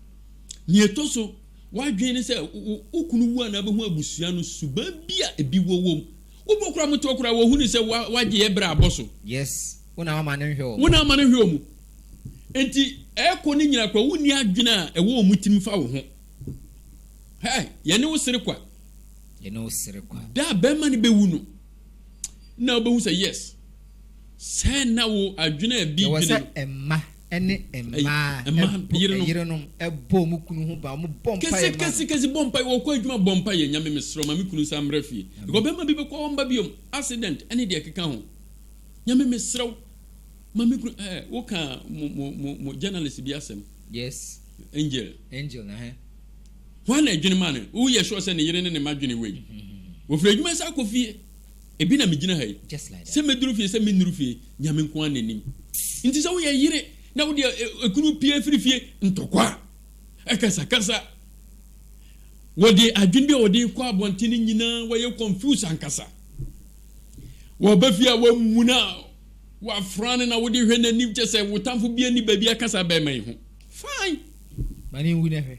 Nea ɛtɔ so, w'adwene ne sɛ wo kunu wu a na wobɛhu abusua no suban bi a ebi wɔ wom. Wobɔ koraa mu toɔ koraa a, wɔhunu sɛ wagye yɛ berɛ abɔ so. Yes, wo na wama no nhwɛ wɔn. Wo na wama no nhwɛ wɔn. Enti ɛrekɔ ne nyinaa koraa, wonni adwene a ɛwɔ wɔn tirim fa wo ho. Hɛ, yɛne wo sere kwa. Yɛne wo sere kwa. Da a bɛrima no bɛwu no, na wobɛhu sɛ yes, sɛ na wo adwene a bi dwene no. Yɛwɔ sɛ mma ne mmaa yerenom bɔ mu kunu ho ba, wɔn bɔ mpa yɛ ma no. Kɛse kɛse bɔ mpa, wɔkɔ adwuma bɔ mpa yɛ, Nyame mesrɛ ma me kunu nsa mmra fie. Because bɛrima bi bɛkɔ hɔ mba biom, accident ne deɛ ɛkeka ho. Nyame mesrɛ wo ma me kunu, eh, woka mo mo mo journalist bi asɛm. Yes. Angel. Angel, ɛhɛn. Hwan na ɛdwene maa no? Wo yɛ sure sɛ ne yere ne ne mma dwene wei? Wɔfiri adwuma san kɔ fie. Ebi na megyina ha yi. Just like that. Sɛ mɛduru fie, sɛ mennuru fie, Nyame nko ara na nim. Nti sɛ woyɛ yere na wode ɛ, ɛ, ekunu pie firi fie, ntɔkwa, akasakasa, wɔde adwene bi a wɔde rekɔ abɔnten no nyinaa, wɔyɛ confused ankasa. Wɔba fie a wɔamuna. Wafra no na wode hwɛ n'anim kyɛ sɛ wo tamfo bia nni baabi aka saa bɛɛma yi ho fine. Ma ne nwu na hwɛ.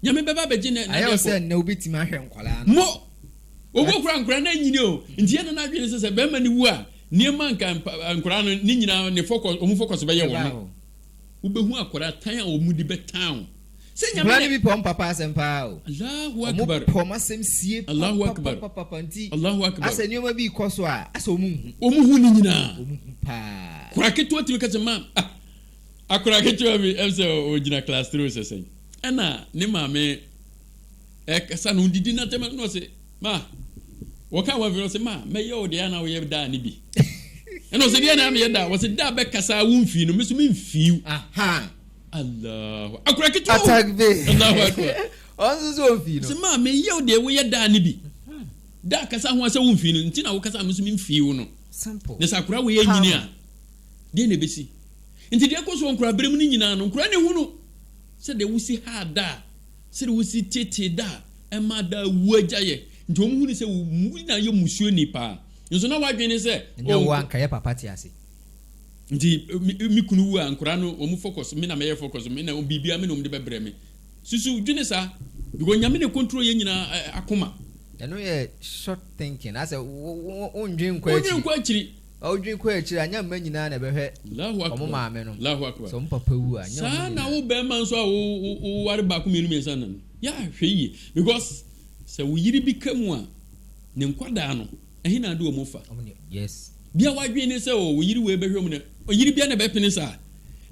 Nyame bɛba abɛgye na Ayɛ wo sɛ nnɛ wobɛtumi ahwɛ nkwadaa no. Mo! Ɔwuo koraa nkwadaa no anyini o nti yɛ na n'adwene sɛ sɛ bɛɛma no wu a nneɛma nka nkwadaa no ne nyinaa ne fɔkɔ ɔmo fɔkɔso bɛyɛ wɔn no. Wobɛhu akwadaa tan a ɔmo de bɛtan wo. Sɛ Nyame Nkwadaa no bi pɛ wɔn papa asɛm pa ara o. Allahu Wɔn Akbar. pɛ wɔn asɛm sie Allahu Akbar. papapapapa nti Allahu Akbar. asɛ nneɛma bi rekɔ so a, asɛ wɔn nhu. Wɔn hu ne nyinaa. Wɔn hu pa ara. Akwadaa ketewa tumi ka sɛ, Maam, ah, akwadaa ketewa bi, ɛm sɛ ɔgyina class three o sɛ sɛn, ɛna ne maame ɛkasa no didi na tɛmɛ no na ɔse, Ma, wɔka wɔn afei na ɔse, Ma, mɛyɛ wo deɛ ɛyɛ a na woyɛ daa no bi. Ɛna ɔse, Deɛ na meyɛ daa? Wɔse, Daa bɛkasa a womfii no, me nso memfii wo. Aha! Allahu akura ketewa o. Atakbe. Allahu akura. Ɔn nso so ɔnfii no. Sɛ maa me yɛ o deɛ woyɛ daa ne bi. Daa kasa ho asɛ wonfii no nti na wokasa me nso memfii wo no. Simple. Na sɛ akora wei anyini a deɛ na ɛbɛsi. Nti deɛ ɛkɔ so wɔ nkora berɛ mu no nyinaa no nkora ne hunu sɛ deɛ wosi haa daa sɛ deɛ wosi tetee daa ɛma daa wu agya yɛ. Nti wɔn hunu sɛ wo na yɛ musuo ni paa. Nso na wadwene sɛ. Nyɛ wo anka yɛ papa te ase. Nti me me kunu wu a nkora no wɔn focus me na mɛyɛ focus me na biribiara me na wɔn de bɛbrɛ me. Susu dwene saa because nyame na control yɛn nyinaa akoma. Ɛno yɛ short thinking asɛ wondwen nkɔ akyiri. Wondwen nkɔ akyiri. Wodwen kɔ akyiri a nyɛ mma nyinaa na ɛbɛhwɛ wɔn maame no. Sɛ wɔn papa wu a nyɛ wɔn nyinaa. Saa na wo bɛrima nso a woware baako mmienu mmiɛnsa nnan no yɛ ahwɛ yie because sɛ wo yere bi ka mu a ne nkwadaa no. Ɛhe na ade wɔ mu fa? Bia wadwen ne sɛ oh oyiri wei bɛhwɛ mu na oyiri bia na ɛbɛpene saa.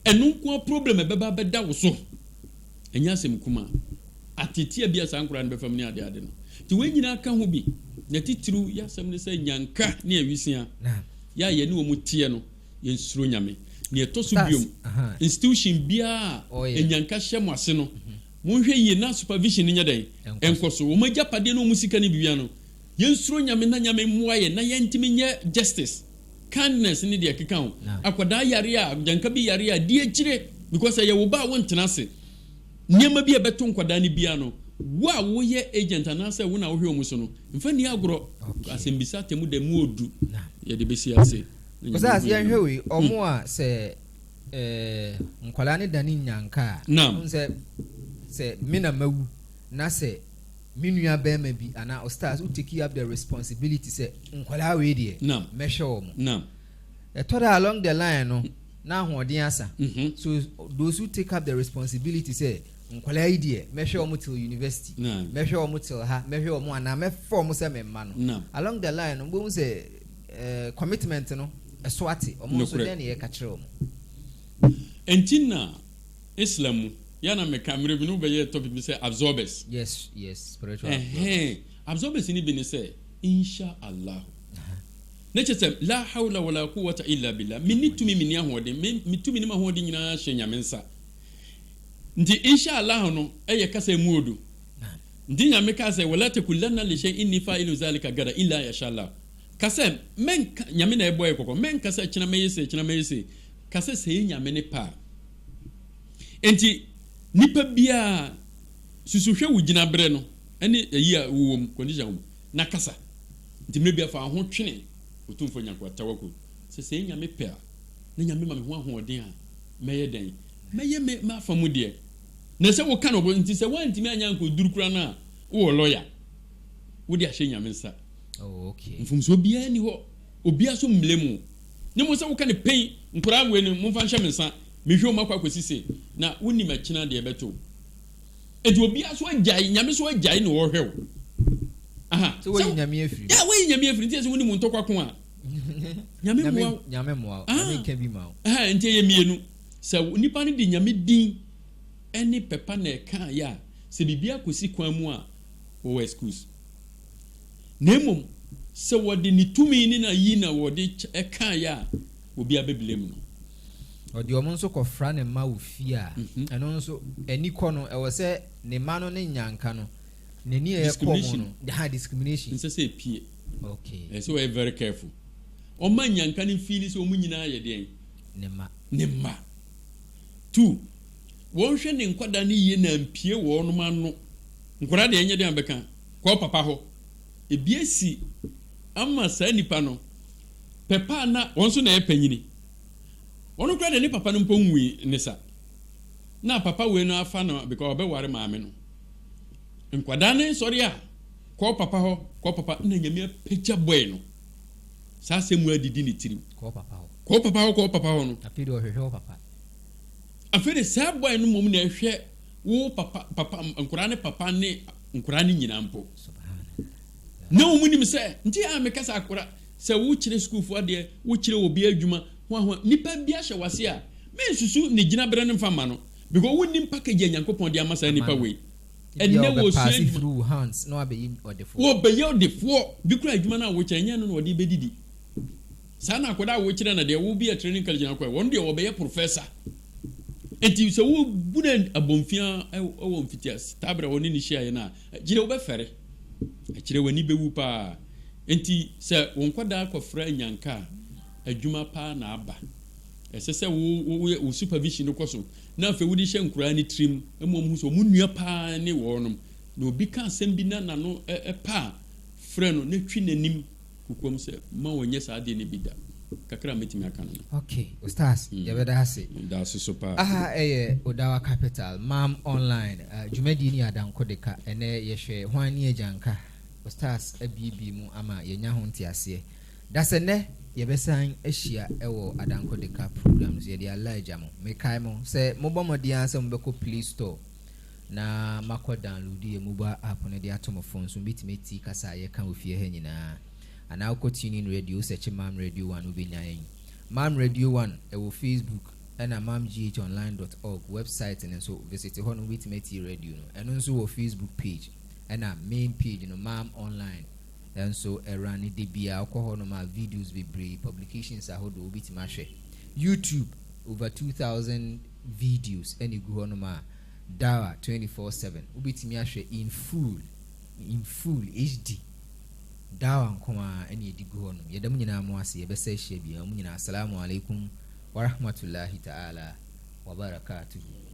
Ɛno nko ara problem ɛbɛba abɛda wo so. Ɛnyɛ asɛm kumaa. Atetea bi a saa nkoraa no bɛfa mu ne ade ade no. Nti wei nyinaa ka ho bi. Na titiriw yɛ asɛm ne sɛ nyanka ne awisia yɛ a yɛne wɔn teɛ no yɛnsuro Nyame. Nea ɛtɔ so biom institution biara a nyanka hyɛ mo ase no monhwɛ yie na supervision no nyɛ dɛn? Ɛnkɔ so. Wɔn agyapadeɛ ne wɔn sika ne biribiara no Yɛnsuro Nyame na Nyame mmoa yɛn na yɛntumi nyɛ justice, kindness ne deɛ ɛkeka ho. Akwadaa yare a, agyanka bi yare a, di akyire because ɛyɛ wo ba a wontena ase. Nneɛma bi a ɛbɛto nkwadaa no biara no, wo a woyɛ agent anaasɛ wo na wohwɛ wɔn so no, mfa nni agorɔ. Asɛmmisa atemmu da mu ɔɔdu, yɛde bɛsi ase. Ɔsaase yɛnhwɛ wei, ɔmo a sɛ nkwadaa no dane nnyanka a, wohu sɛ sɛ me na mawu na sɛ Me nua bɛɛma bi anaa ɔstars wo teki up the responsibility sɛ nkɔlaa wei deɛ mɛhwɛ wɔ mo ɛtɔ da along the line no na ahoɔden asa mhm. so those who take up the responsibility sɛ nkɔlaa yi deɛ mɛhwɛ wɔ mo till university mɛhwɛ wɔ mo till ha mɛhwɛ wɔ mo anaa mɛfa wɔ mo sɛ memma no along the line no mbɛhu sɛ eh, commitment no ɛso ate ɔmo nso dɛn ne yɛka kyerɛ wɔ mo ɛnti na Islam mu yɛ a na meka mmerɛ bi na wobɛyɛɛ topic bi sɛ absorbers. Yes yes spiritual absorbers. Ɛhɛn absorbers no bi ne sɛ Insha Allah na kyerɛ sɛ laa hawla wala quwwata illa billah menni tumi menni ahoɔden me me tumi ne m'ahoɔden nyinaa hyɛ Nyame nsa nti Insha Allah no ɛyɛ kasa emu odu nti Nyame kaa sɛ wala takulanna li shay'in inni fa'ilun zalika gada illa yasha Allah Ka sɛ, Mɛnka, Nyame na ɛbɔɔ yɛ kɔkɔ, mɛnka sɛ kyena mɛyɛ sei, kyena mɛyɛ sei. Ka sɛ, Sɛɛ Nyame ne pɛ a. Enti, nipa biara, susu hwɛ wo gyinaberɛ no ne ayi a wowɔ mu, condition a wowɔ mu, na kasa. Nti mmerɛ biara fa wo ho twene Otumfoɔ Nyankopɔn, Tawakkul, sɛ sɛɛ Nyame pɛ a, na Nyame ma me ho ahoɔden a, mɛyɛ dɛn? Mɛyɛ me m'afa mu deɛ. Na sɛ woka no, nti sɛ woantumi anyɛ ankɔduru koraa no a, wowɔ lawyer, wode ahyɛ Nyame nsa. Oh okay. Mfomsoɔ biara nni hɔ, obiara so mmlɛ mu. Ne mo sɛ woka no pɛn, nkwadaa wei no momfa nhyɛ me nsa, mehwɛ wɔn akɔ akɔsi sei, na wonim akyina deɛ ɛbɛto wo. Enti obiara so agyae, Nyame so agyae na ɔrehwɛ wo. Aha. Sɛ woayi Nyame afiri mu. Yeah, woayi Nyame afiri, nti ɛsɛ wonim wo ntɔkwa ko a. Nyame mmoa wo. Nyame mmoa wo. Nyame nka bi ma wo. Aha, nti ɛyɛ mmienu. Sɛ nipa no de Nyame din ɛne pɛpa na ɛkaeɛ a, sɛ biribiara kɔsi kwan mu a, wɔwɔ excuse. na mmom sɛ wɔde ne tumi ne n'ayi na wɔde kaeɛ a, obiara bɛblame no. Ɔde wɔn nso kɔfra ne mma wɔ fie a, ɛno nso, ani kɔ no. Ɛwɔ sɛ ne mma no ne nnyanka no, n'ani a ɛkɔ wɔn no, ha, discrimination. Ɛnsɛ sɛ ɛpue. Okay. Ɛsɛ sɛ wɔyɛ very careful. Ɔmma nnyanka no mfiili sɛ wɔn nyinaa yɛ deɛn? Ne mma. Ne mma. Two, wɔnhwɛ ne nkwadaa no yie na ampue wɔnom ano. Nkwadaa deɛ ɛnyɛ deɛn a bɛka. Kɔ wo papa hɔ. Ebi asi ama saa nipa no. Pɛpa a na wɔn nso na ɛyɛ panyini. Ɔno koraa deɛ ne papa no mpo nwui ne sa. Na papa wei no afa no because ɔbɛware maame no. Nkwadaa no nsɔre a, kɔ wo papa hɔ, kɔ wo papa na Nyame apagya boy no. Saa asɛm wei adidi ne tirim. Kɔ wo papa hɔ. Kɔ wo papa hɔ, kɔ wo papa hɔ no. Afei de ɔhwehwɛ wo papa. Afei de saa boy no mmom na ɛhwɛ wo papa papa nkwadaa ne papa ne nkwadaa ne nyinaa mpo na wɔn nim sɛ nti a meka sɛ akora sɛ wokyerɛ sukuufo adeɛ wokyerɛ obi adwuma ho ahoa nipa bi ahyɛ wase a mensusu ne gyinaberɛ no mfa ma no because wonim package a nyankopɔn de ama saa nipa wei ɛnɛ wɔsua adwuma wɔbɛyɛ ɔdefoɔ bi kora adwuma no a wokyerɛ nyɛ no na ɔde bɛdidi Saa na akwadaa a wokyerɛ na deɛ wobi a training college na akɔ wɔn deɛ wɔbɛyɛ professor nti sɛ wobu no abɔnfia wɔ mfitiase taa berɛ a wɔne no hyiaeɛ no a gyina wobɛfɛre akyerɛ w'ani bɛwu paa nti sɛ wo nkwadaa kɔfra nyanka a adwuma paa na aba ɛsɛ sɛ wo wo wo supervision no kɔ so na afei wode hyɛ nkoraa ne tirim ma wɔn ho sɛ wɔn nua paa ne wɔnom na obi ka asɛm bi na nano paa frɛ no na twi n'anim kokoam sɛ mma wɔnyɛ saa adeɛ no bi da. Kakra a mɛtumi aka no no. Ok Ustaz yɛbɛda ase. Medaase so paa. Aha yɛ Odawa Capital, Mam Online, dwumadie no yɛ adankode ka. Ɛnɛ yɛhwɛ hwan ne agyanka. Ustaz abuebue mu ama yɛanya ho nteaseɛ. Dasɛnnɛ yɛbɛsan ahyia wɔ adankode ka program no so. Yɛde Allah agya mo. Mekae mo sɛ mobɔ mmɔden ara sɛ mobɛkɔ Play Store. na makɔ download yɛ mobile app no de ato mo phone so mɛtumi atie kasa a yɛka wɔ fie ha nyinaa anaa wokɔ tuning radio wo sɛkye mam radio one wobɛnya yɛn mam radio one ɛwɔ facebook ɛna mam gh online dot org website no nso visit hɔ no wobɛtumi atie radio no ɛno nso wɔ facebook page ɛna main page no mam online nso ɛwura ne de bia wokɔ hɔ nom a videos bebree publications ahodoɔ wobɛtumi ahwɛ youtube over 2000 videos na egu hɔ nom a Dara twenty four seven wobɛtumi ahwɛ in full in full HD Dara nko ara na yɛde gu hɔ nom yɛda mo nyinaa mo ase yɛbɛsa ahyia biara mo nyinaa Assalamu alaikum warahmatullahi ta'ala wabarakatuhu.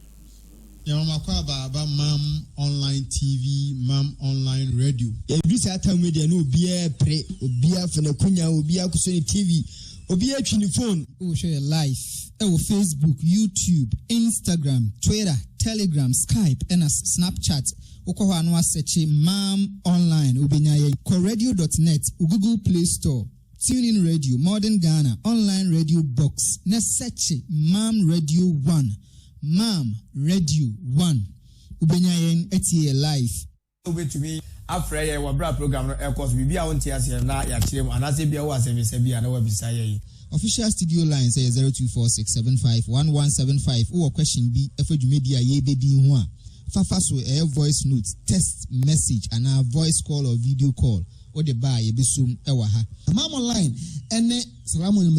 Yɛnwomakɔ aba aba mam online TV mam online radio. Ɛduru saa tam yi deɛ na obiara pere, obiara fa n'akunya, obiara kɔsɔ ne TV. Obi atwi ne fon. Wohwɛ yɛ live wɔ Facebook, YouTube, Instagram, Twitter, Telegram, Skype ɛna Snapchat. Wokɔ hɔ a na woasɛkye Mam Online wobɛnya yɛn. Kɔ radio dot net wo Google Play Store, TuneIn Radio, Modern Ghana, Online Radio Box na sɛkye Mam Radio One. Mam Radio One. Wobɛnya yɛn atie yɛ live. Wobɛtumi afrɛ yɛn wɔ berɛ a program no rekɔ so, biribi a wonte aseɛ no na yɛakyerɛ mu, anaasɛ ebia wowɔ asɛmmisa bi a na woabisa yɛn. Official studio lines yɛ zero two four six seven five one one seven five Wowɔ question bi fa dwumadi a yɛrebɛdi yi ho a, fa fa so, ɛyɛ voice note, text message, anaa voice call or video call, wode ba a yɛbɛsom wɔ ha. Amammɔ line ne Salamu Alaikum.